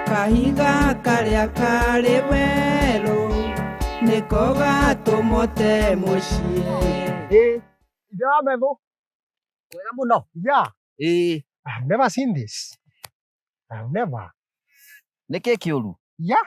kahiga karĩa karĩ werũ nĩko gatũmote mũciĩ Eh, ithe wa metho. Wega mũno. Yeah. Eh. I've never seen this. I've never. Nĩ kĩ kĩũru? Yeah.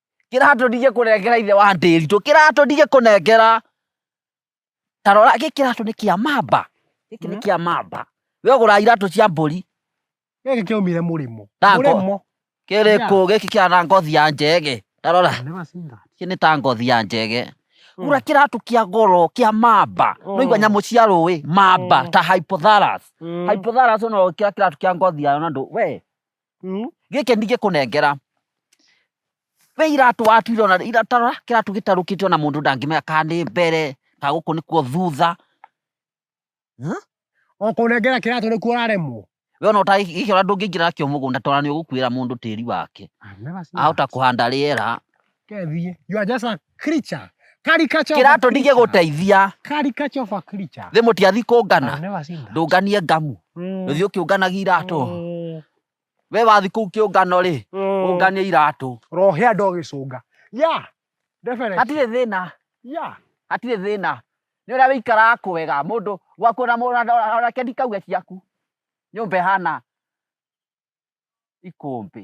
kĩratũrire kũnengera ithe wa ndĩritũ kĩratũrire kũnengera ta rora gĩkĩ kĩratũ nĩ kĩa mamba gĩkĩ nĩ kĩa mamba we ũgũra iratũ cia mbũri gĩkĩ kĩaumire mũrĩmo Na ngo- mũrĩmo kĩrĩ kũ gĩkĩ kĩra na ngothi ya njege ta rora Nĩ macinga. gĩkĩ nĩ ta ngothi ya njege Mm. gũra kĩratũ kĩa goro kĩa mamba no igua Mm. nyamũ cia rũĩ mamba Mm. ta hypothalus Mm. hypothalus no kĩra kĩratũ kĩa ngothi yayo na ndũ we Mm. gĩkĩ ndingĩkũnengera we iratũ watuire ona iratara kĩratũ gĩtarũkĩte ona mũndũ ndangĩmenya kana nĩ mbere kana gũkũ nĩkuo thutha Ũkũnengera kĩratũ nĩkuo ũraremwo. we ona ũta- gĩkĩ ona ndũngĩingĩra nakĩo mũgũnda tondũ nĩ ũgũkuĩra mũndũ tĩri wake I've never seen ahota that. kũhanda rĩera Kethiĩ. You are just a creature. Caricature of a kĩratũ ndigĩ creature. gũteithia Caricature of a creature. thĩ mũtiathi I've kũngana never seen that. ndũnganie ngamu Mm. ũthiĩ ũkĩũnganagia iratũ Mm. we wathi kũu kĩũngano rĩ Mm. ũnganie iratũ rohe andå agä cånga ya definitely. hatirĩ thĩna ya hatirĩ thĩna nĩ ũrĩa wĩikaraga kwega mũndũ gwaku ona mũndũ onake ndikauge ciaku nyũmba ĩhana ikũmbĩ